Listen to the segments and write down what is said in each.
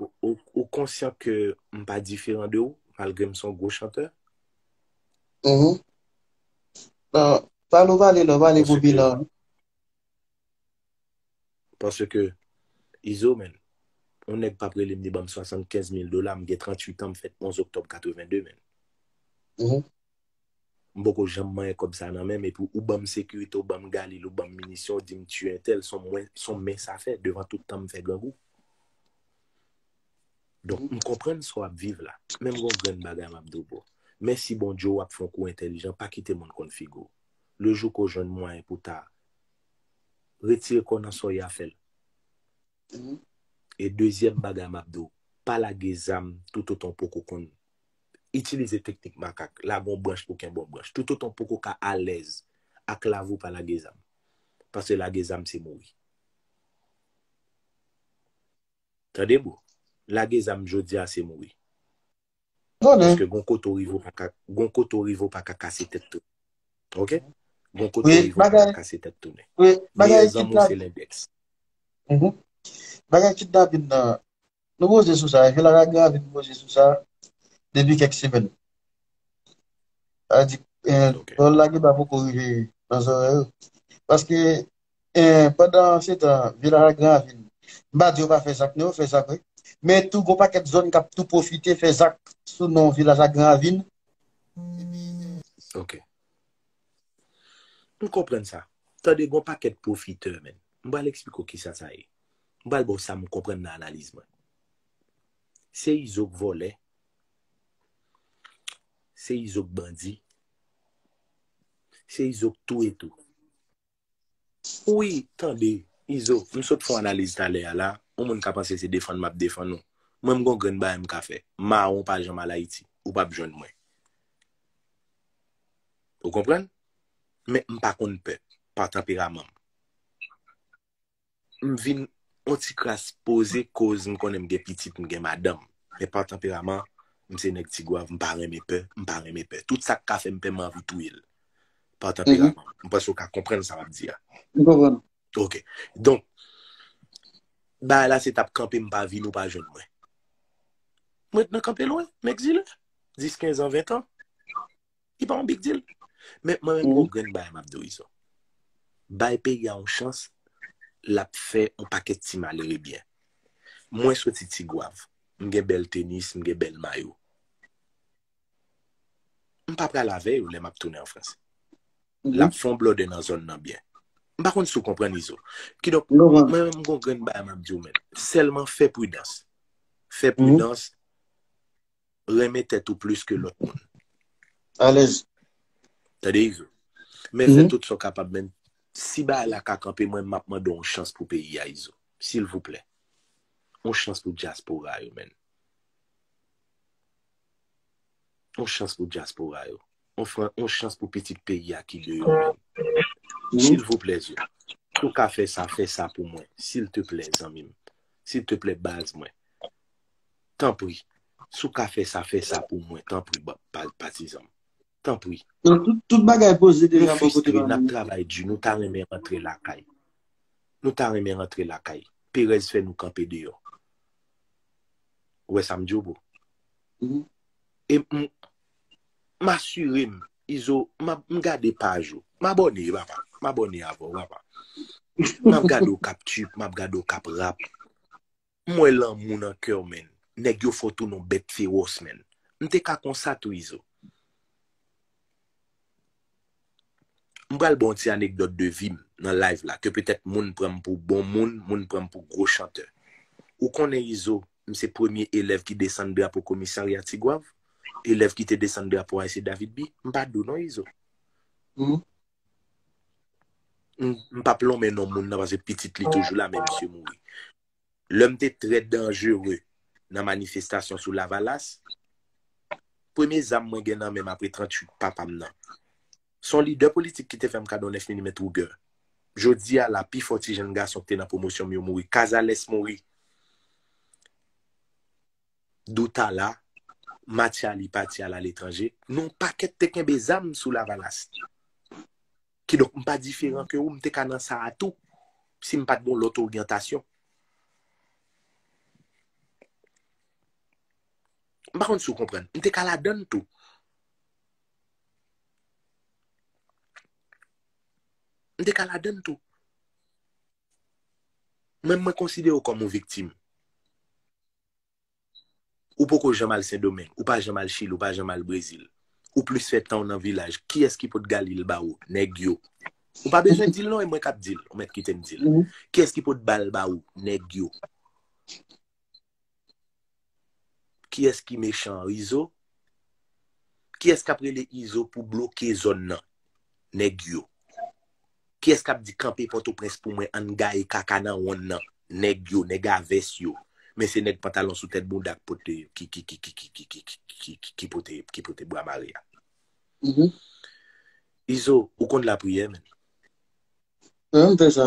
Ou konsyan ke m pa diferan de ou, malgre m son gwo chantè? Uhmm. Nan, pa nou pale nan, pale pou bilan an. Paske, Izo men, yon nèg pap rele m li banm 75 mil dola, m gen 38 an, m fèt 11 oktòb 82 men. Uhmm. m poko janm manyen kòb sa nan menm epi ou banm sekirite ou banm galil ou banm minisyon ou dim tiye entèl son mwen son men sa fè devan tout tan m fè grangou donk m konprann sa w ap viv la men m gon grenn bagay m ap di w bro mèsi Bondye w ap fon kou entèlijan pa kite moun konn figi w le jou ke w jwenn mwayen pou ta retire kò w nan sa w ye a fè l e dezyèm bagay m ap di w pa lage zam toutotan w poko konn itilize teknik makak, lage yon branch pou kenbe yon branch, toutotan w poko ka alèz ak lavi w pa lage zam. Paske lage zam se mouri. Tande bro, lage zam jodi a se mouri. Paske gon kote w rive w pa ka, gon kote w rive w pa ka kase tèt tounen. Ok? Gon kote w rive w pa ka kase tèt tounen. Meyè zanmi w se lendèks. Bagay kidnapin nan, Nou koze sou sa, epi Lara gen anvi nou koze sou sa depi kèk semèn. Lara di, pawòl la gen pa poko rive nan zòrèy yo. Paske, pandan se tan, vye Lara gen anvi nou. M pa di yo pa fè zak non, yo fè zak wi. Men tou gon pakèt zòn k ap tou pwofite fè zak sou non vilaj la gen anvi n. Ok. M konprann sa. Tande gon pakèt pwofitè menn. M pral eksplike w kisa sa ye. M pral ba w sa m konprann nan analiz mwen. Se Izo k vòlè, se Izo k bandi, se Izo k touye tou. Wi, tande, Izo, m sot fè yon analiz talè a la, yon moun ka panse se defann m ap defann ou. Mwen m gen yon grenn bagay m ka fè. Mawon pa janm al Ayiti. Ou pap jwenn mwen. Ou konprann? Men m pa konn pè, pa tanperaman m. m vin on ti kras poze koz m konnen m gen pitit m gen madanm men pa tanperaman m se nèg tigwav m pa renmen pè m pa renmen pè tout sak ka fèm pè m anvi touye l pa tanperaman m panse ou ka konprann sa map di a m konprann ok donk bagay la se tap kanpe m pa vin ou pa jwenn mwen m ret nan kanpe lwen m egzile 10 15 an 20 an. Li pa yon big deal. Men mwen renmen yon grenn bagay map diw izo. Bay peyi a yon chans, lap fè yon pakèt ti malere byen. Mwen soti Tigwav, m gen bèl tenis, m gen bèl mayo. M pa pral avè yo lè map tounen an Frans. Lap fè yon blòdè nan zòn nan byen. M pa konn si w konprann izo. Kidonk, mwen menm m gen yon grenn bagay map diw menn. Sèlman fè pridans. Fè pridans. renmen tèt ou plis ke lòt moun. Alèz. Tande Izo. Men fè tout sa w kapab men si bagay la ka kanpe mwen m ap mande w yon chans pou peyi a Izo. Silvouplè. Yon chans pou dyaspora yo menn. Yon chans pou dyaspora yo. Ofran yon chans pou pitit peyi a ki deyò menm. Silvouplè zo, si w ka fè sa, fè sa pou mwen, silteplè zanmi m. Silteplè baz mwen. Tanpri, si w ka fè sa, fè sa pou mwen, tanpri patizan m. Tanpri. Tout bagay poze deja bò kote nou. Nou fistre, n ap travay di, nou ta renmen rantre lakay. Nou ta renmen rantre lakay. Perèz fè nou kanpe deyò. Ou wè sa m di w bro? E m. M asire m Izo m gade paj ou. M abòne papa. M abòne avè w papa. M ap gade w k ap tchuip, m ap gade w k ap rap. M wè lanmou nan kè w menn. Nèg yo fò tou non bèt fewòs menn. M te ka konsa tou Izo. M pral ba w ti anekdòt de vi m nan live la ke petèt moun pran m pou bon moun, moun pran m pou gwo chantè. Ou konnen Izo, M se premye elèv ki desann drapo komisarya Tigwav, elèv ki te desann drapo Ayse David Bie. M pa dou non Izo. M pap lonmen non moun nan paske pitit li toujou la men misye mouri. Lè m te trè danjere nan manifestasyon sou Lavalas, premye zam mwen gen nan men m apre 38 papa m nan, Se yon lidè politik ki te fè m kado 9 milimèt Ruger. Jodi a la, pi fò ti jenn gason ki te nan pwomosyon m yo mouri. Casalès mouri. Doutala, Mathialy pati al aletranje. Nou yon pakèt te kenbe zam sou Lavalas. Kidonk, m pa diferan ke ou, m te ka nan sa a tou, si m pa t gen yon lòt oryantasyon. M pa konn si ou konprann. M te ka ladann tou. M te ka ladan l tou. Men mwen konsidere w kòm yon viktim. Ou poko janm al Sendomeng, ou pa janm al Chili, ou pa janm al Brezil. Ou plis fè tan w nan vilaj. Kiyès ki pot gali l ba ou? Nèg yo. Ou pa bezwen di l non, e mwen k ap di l. Ou mèt kite m di l. Kiyès ki pot ba l ba ou? Nèg yo. Kiyès ki mechan an izo? Kiyès kap rele izo pou bloke zòn nan nèg yo? Kiyès kap di kanpe pòtoprens pou mwen ann gaye kaka nan wonn nan nèg yo nèg a vès yo men se nèg pantalon sou tèt bounda ki pote bwa mare a izo ou konn lapriyè menn? Mwen menm fè sa.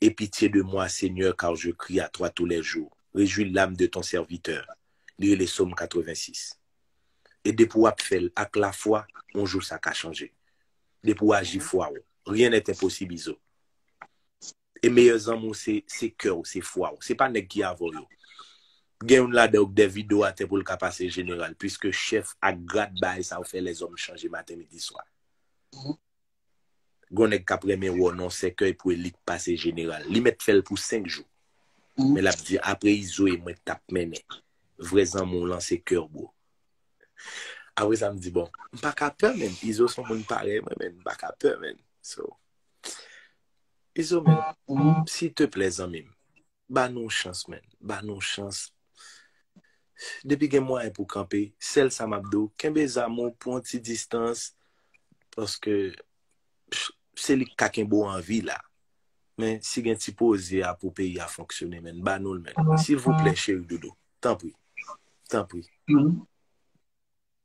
Aie pitye de mwa Segnè kar je kri a twa tou lè jou, rejwi lam de ton sèvitè, li rele som 86. E depi wap fèl ak la fwa on jou sa ka chanje. Depi ou aji fwa ou, rien n'est impossible izo. E meyè zanmi ou se se kè ou se fwa ou, se pa nèg ki avèw yo. Gen youn ladan yo k dè vide w atè poul ka pase jeneral, puiske chèf ak grad baay sa yo fè lèzòm chanje maten midi swa. Gon nèg kap renmen wè w nan yon sèkèy pou elit pase jeneral. Li mèt fè l pou 5 jou. Men lap di apre Izo e mwen k tap mennen. Vrè zanmi w lan se kè w bro. Apre sa m di bon, m pa ka pè men. Izo s on moun parèy mwen men. M pa ka pè men. So, Izo men, sil te plè zanmi m. Ba nou yon chans man. Ba nou yon chans. Depi gen mwayen pou kanpe, sèl sa map di'w, kenbe zam ou pou yon ti distans, paske se li ki ka kenbe w an vi la. Men si gen ti poze a pou peyi a fonksyone man, ba nou l man. Silvouplè cheri dodo. Tanpri. Tanpri.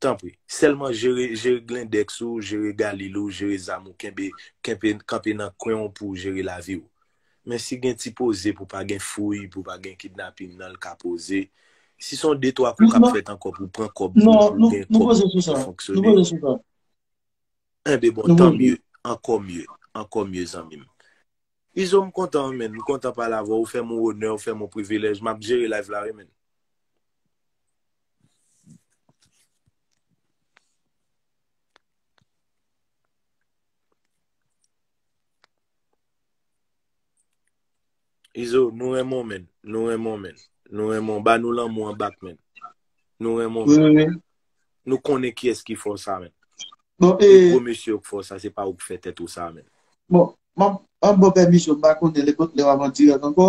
Tanpri. Sèlman jere jere glindex ou, jere galil ou, jere zam ou kenbe kenpe kanpe nan kwen w pouw jere lavi w. Men si gen ti poze pou pa gen fouy, pou pa gen kidnaping nan l ka poze. Si son de twa kou kap fèt ankò pou pran kòb pou pou gen kòb pou fonksyone. Enben bon tan mye, ankò mye, ankò mye zanmi m. Izo m kontan wi menn, m kontan pale avè w, ou fè m on onè, ou fè m on privilèj, map jere live la wi menn. Izo, nou renmen w men. Nou renmen w men. Nou renmen w. Ba nou lanmou an bak men. Nou renmen w men. Nou konnen ki eski fò sa men. Bon, e... E gwo mesye ou k fò sa, se pa ou k fè tèt ou sa men. Bon, m ap, m ap bò pèmisyon, m pa konnen lè pot lè w ap an dirèk ankò.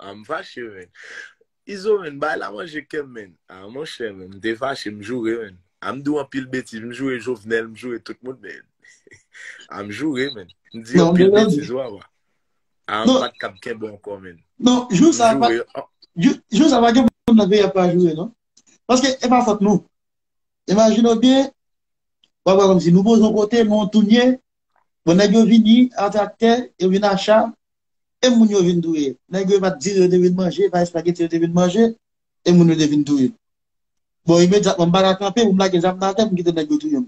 Ahh m fache menn. Izo menn bay la manje kem menn. Ahh monchè menn m te fache m joure menn. Ahh m di w anpil betiz m joure Jovenel m joure tout moun menn. Ahh m joure menn. M di anpil betiz wa wa. Ahh m pat kab kenbe anko menn. Non jou sa pa jou sa pa gen moun nan peyi a pa joure non. Paske e pa fòt nou. Imajine w byen wap wè kòmsi nou poze yon kote men w tounen bon nèg yo vini a traktè yo vin a cha. e moun yo vin touye nèg yo e pat dire yo te vin manje e pa espageti yo te vin manje e moun yo te vin touye bon imedyatman m pa ka kanpe pou m lage zam nan atè pou m kite nèg yo touye m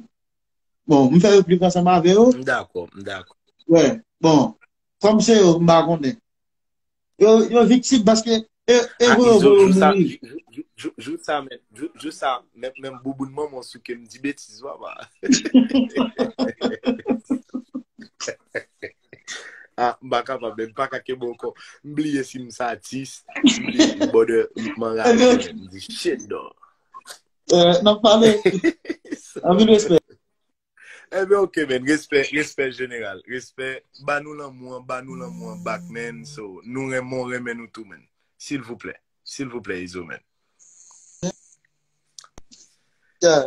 bon m fè replik ansanm avè yo m dakò m dakò wè bon kòm se yo m pa konnen yo viktim paske E pou yon volo mouri. Jou sa men, jou sa men, men m bouboun man mwen souke m di betiz waba. A, m baka pa men, m baka ke bon kon, m bliye si m sa atis, m bliye si m bode, m man rade, m di shit do. E, nan pale, anvi m espè. Ebyen ok men, respè, respè jeneral, respè, ba nou lanmou an, ba nou lanmou an bak men, so, nou renmen w, renmen nou tou men, silvouplè, silvouplè Izo men. Yeah.